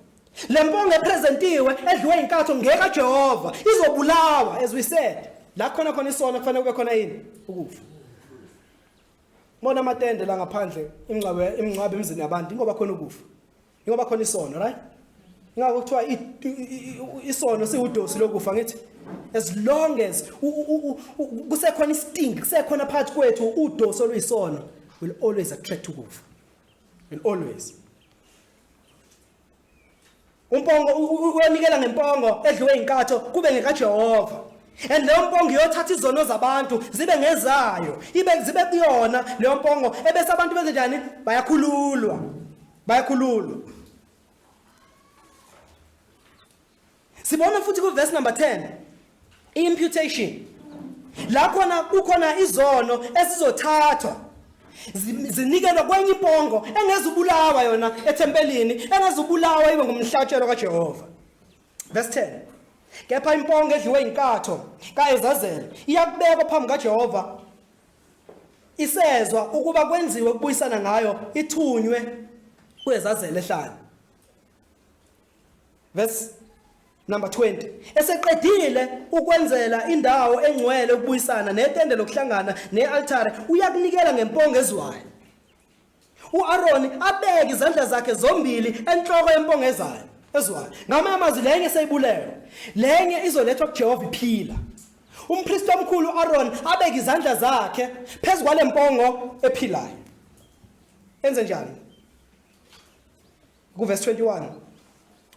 lempongo epresentiwe edliwe inkatho ngeka Jehova izobulawa as we said la khona khona isono kufanele kube khona yini ukufa Mona amatende la ngaphandle imingcwabe imingcwabe emzini yabantu ingoba khona ukufa Ingoba khona isono, right? Ingakho kuthiwa isono siwudosi lokufa ngithi as long as kusekhona isting kusekhona phakathi kwethu udosi oluyisono will always attract ukufa. Will always. Umpongo uyonikela ngempongo edliwe inkatho kube ngekaJehova. And leyo mpongo iyothatha izono zabantu zibe ngezayo. Ibe zibe kuyona leyo mpongo ebese abantu benze njani? Bayakhululwa. Bayakhululwa. Sibona futhi ku verse number 10 imputation la khona kukhona izono esizothathwa zi- zinikelwa kwenye impongo engezubulawa yona ethempelini engezubulawa ibe ngumhlatshelo kaJehova verse 10 kepha impongo edliwe inkatho kaEzazeli iyakubekwa phambi kaJehova isezwa ukuba kwenziwe ukubuyisana ngayo ithunywe kwezazele ehlane verse number 20 eseqedile ukwenzela indawo engcwele ukubuyisana netende lokuhlangana nealtare uyakunikela ngempongo ezwayo U-Aroni abeke izandla zakhe zombili enhloko yempongo ezayo ezwayo. Ngamanye amazwi lenye seyibulewe. Lenye izolethwa kuJehova iphila. Umpristi omkhulu uAron abeke izandla zakhe phezu kwalempongo ephilayo. Enze njani? Kuvesi 21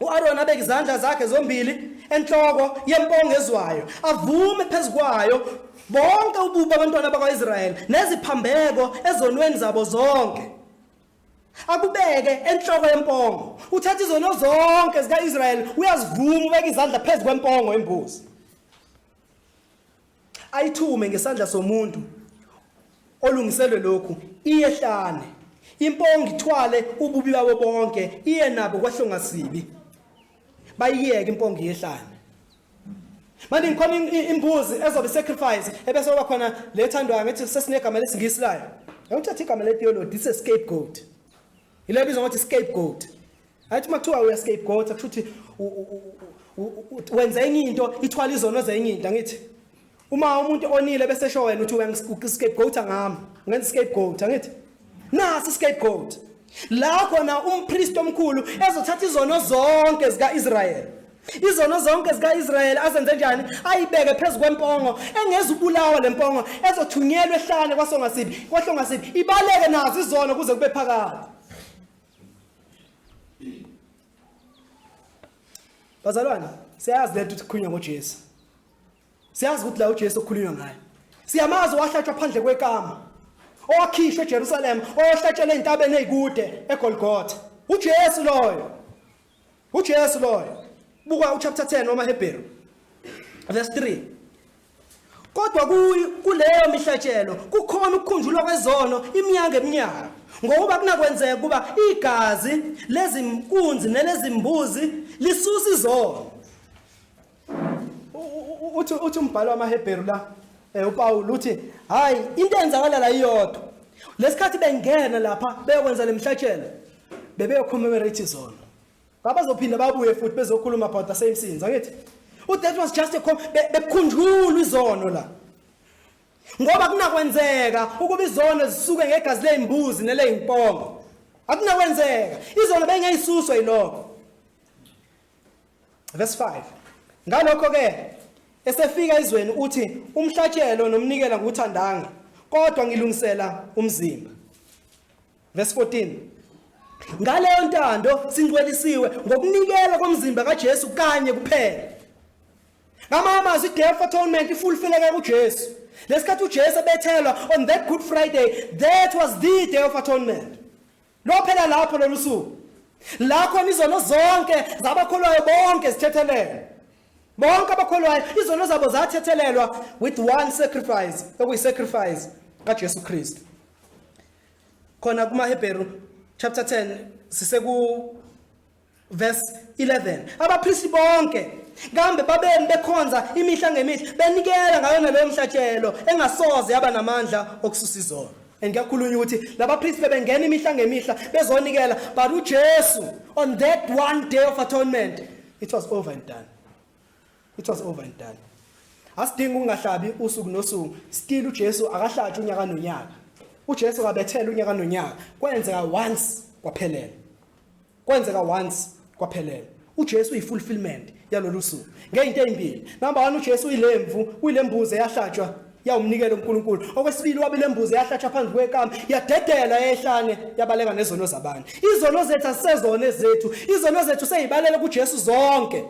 u-Aroni abeke izandla zakhe zombili enhloko yempongo ezwayo avume phezu kwayo bonke ububi abantwana bakwa-israyeli neziphambeko ezonweni zabo zonke akubeke enhloko yempongo uthatha izono zonke zika-israyeli uyazivuma ubeka izandla phezu kwempongo embuzi ayithume ngesandla somuntu olungiselwe lokhu iyehlane impongo ithwale ububi babo bonke iye nabo kwahlongasibi bayiyeke impongo yehlane manje ngikhona imbuzi ezobe sacrifice ebese oba khona lethandwa ngithi sesinegama lesingisi layo ngithatha igama le theology this is scapegoat ile bizwa ngokuthi scapegoat Athi makuthiwa uya scapegoat kusho ukuthi wenza enye into ithwala izono zenye into angithi. Uma umuntu onile bese sho wena uthi uya scapegoat ngami. Ngenza scapegoat angithi. Nasi scapegoat. La khona umpriest omkhulu ezothatha izono zonke zikaIsrael. Izono zonke zikaIsrael azenze njani? Ayibeke phezu kwempongo engezubulawa lempongo ezothunyelwa ehlane kwasongasiphi. Kwahlongasiphi ibaleke nazo izono kuze kube phakade. Bazalwane, siyazi lento ukuthi kukhulunywa ngoJesu. Siyazi ukuthi la uJesu okukhulunywa ngaye. Siyamazi wahlatshwa phandle kwekama. Owakhishwe eJerusalem, owahlatshelwa entabeni ezikude eGolgotha. UJesu loyo. uJesu loyo buka uchapter 10 wamaHebheru verse 3 kodwa kuleyo mihlatshelo kukhona ukukhunjulwa kwezono iminyanga eminyaka ngokuba kunakwenzeka ukuba igazi lezimkunzi nelezimbuzi lisusa izono uthi uthi umbhalo wamaHebheru la eh uPawulu uthi hayi into eyenzakala la iyodwa lesikhathi bengena lapha beyokwenza lemhlatshelo bebeyocommemorate izona babazophinda babuye futhi bezokhuluma about the same sins angithi u that was just a bekhunjulwa izono la ngoba kunakwenzeka ukuba izono zisuke ngegazi lezimbuzi nelezimpongo akunakwenzeka izono bengeyisuswa yilokho Verse 5. Ngalokho ke esefika izweni uthi umhlatshelo nomnikela nguthandanga kodwa ngilungisela umzimba. Verse 14. Ngaleyo ntando singcwelisiwe ngokunikela komzimba kaJesu kanye kuphela. Ngama amazwi death atonement ifulfileka kuJesu. Lesikhathi uJesu ebethelwa on that Good Friday that was the day of atonement. Lophela lapho lolu suku. La khona izono zonke zabakholwayo bonke zithethelelwa. Bonke abakholwayo izono zabo zathethelelwa with one sacrifice, okuyisacrifice kaJesu Kristu. Khona kumaHebheru chapter 10 siseku Verse 11. Abapristi bonke kambe babemi bekhonza imihla ngemihla benikela ngayona leyo mhlatshelo engasoze yaba namandla okususa izono. And kuyakhulunywa ukuthi labapristi bebengena imihla ngemihla bezonikela but uJesu on that one day of atonement it was over and done. It was over and done. Asidingi ukungahlabi usuku nosuku still uJesu akahlatshwa unyaka nonyaka. UJesu kabethela unyaka nonyaka kwenzeka once kwaphelela. Kwenzeka once kwaphelela. UJesu uyifulfillment yalolu suku. Ngeyinto ezimbili. Number 1 uJesu uyilemvu, uyilembuzi eyahlatshwa yawumnikela uNkulunkulu. Okwesibili wabilembuzi eyahlatshwa phansi kwekama, yadedela ehlane yabaleka nezono zabanye. Izono zethu asisezona ezethu. Izono zethu seyibalela kuJesu zonke.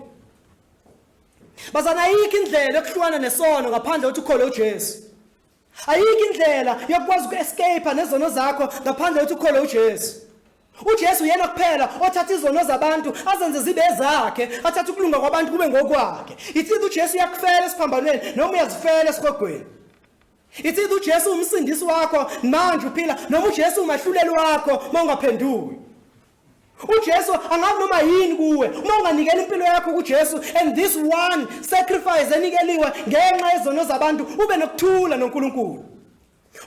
Bazana ayikho indlela yokuhlukana nesono ngaphandle ukuthi ukhole uJesu. ayikho indlela yokwazi uku-escape nezono zakho ngaphandle ukuthi ukholwe ujesu ujesu uyena kuphela othatha izono zabantu azenze zibe ezakhe athathe ukulunga kwabantu kube ngokwakhe ithithi ujesu uyakufela esiphambanweni noma uyazifela esigogweni ithithi ujesu umsindisi wakho manje uphila noma ujesu umahluleli wakho uma ungaphenduki uJesu angabe noma yini kuwe uma unganikela impilo yakho kuJesu and this one sacrifice enikeliwe ngenxa yezono zabantu ube nokuthula noNkulunkulu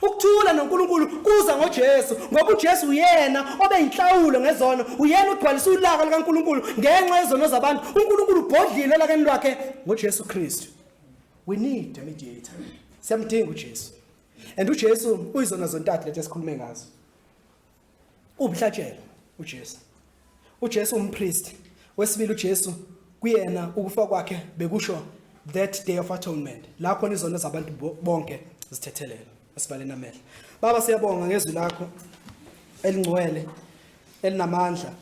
ukuthula noNkulunkulu kuza ngoJesu ngoba uJesu uyena obeyinhlawulo ngezono uyena ugcwalisa ulaka likaNkulunkulu ngenxa yezono zabantu uNkulunkulu ubhodlile lakeni lwakhe ngoJesu Kristu we need a mediator siyamdinga uJesu and uJesu uyizona zontathu lezi esikhulume ngazo Uwumhlatshelo uJesu. UJesu umpriest. Wesibili uJesu kuyena ukufa kwakhe bekusho that day of atonement la khona izono zabantu bonke zithethelelwa esibaleni amehlo baba siyabonga ngezwi lakho elingcwele elinamandla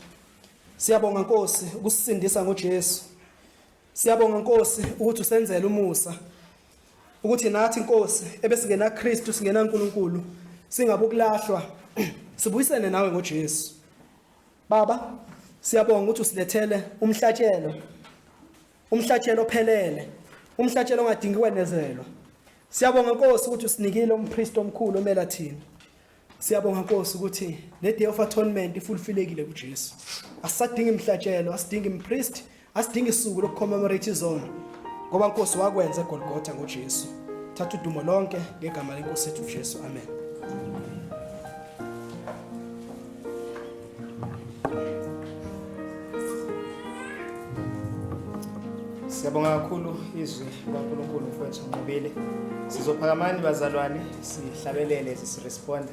siyabonga nkosi ukusindisa ngoJesu Siyabonga Nkosi ukuthi usenzele umusa ukuthi nathi Nkosi ebesingena Kristu singena uNkulunkulu singabukulahlwa sibuyisene nawe ngoJesu. Baba siyabonga ukuthi usilethele umhlatshelo umhlatshelo ophelele umhlatshelo ongadingi kwenezelwa. Siyabonga Nkosi ukuthi usinikile umpriest omkhulu omela thina. Siyabonga Nkosi ukuthi le day of atonement ifulfillekile kuJesu. Asadingi imhlatshelo, asidingi impriest, asidingi isuku lokucommemorate izono. Ngoba Nkosi wakwenza eGolgotha ngoJesu. Thatha udumo lonke ngegama leNkosi yethu uJesu. Amen. Siyabonga kakhulu izwi likaNkulunkulu mfowethu Nqobile. Sizophakamani bazalwane sihlabelele sisiresponda.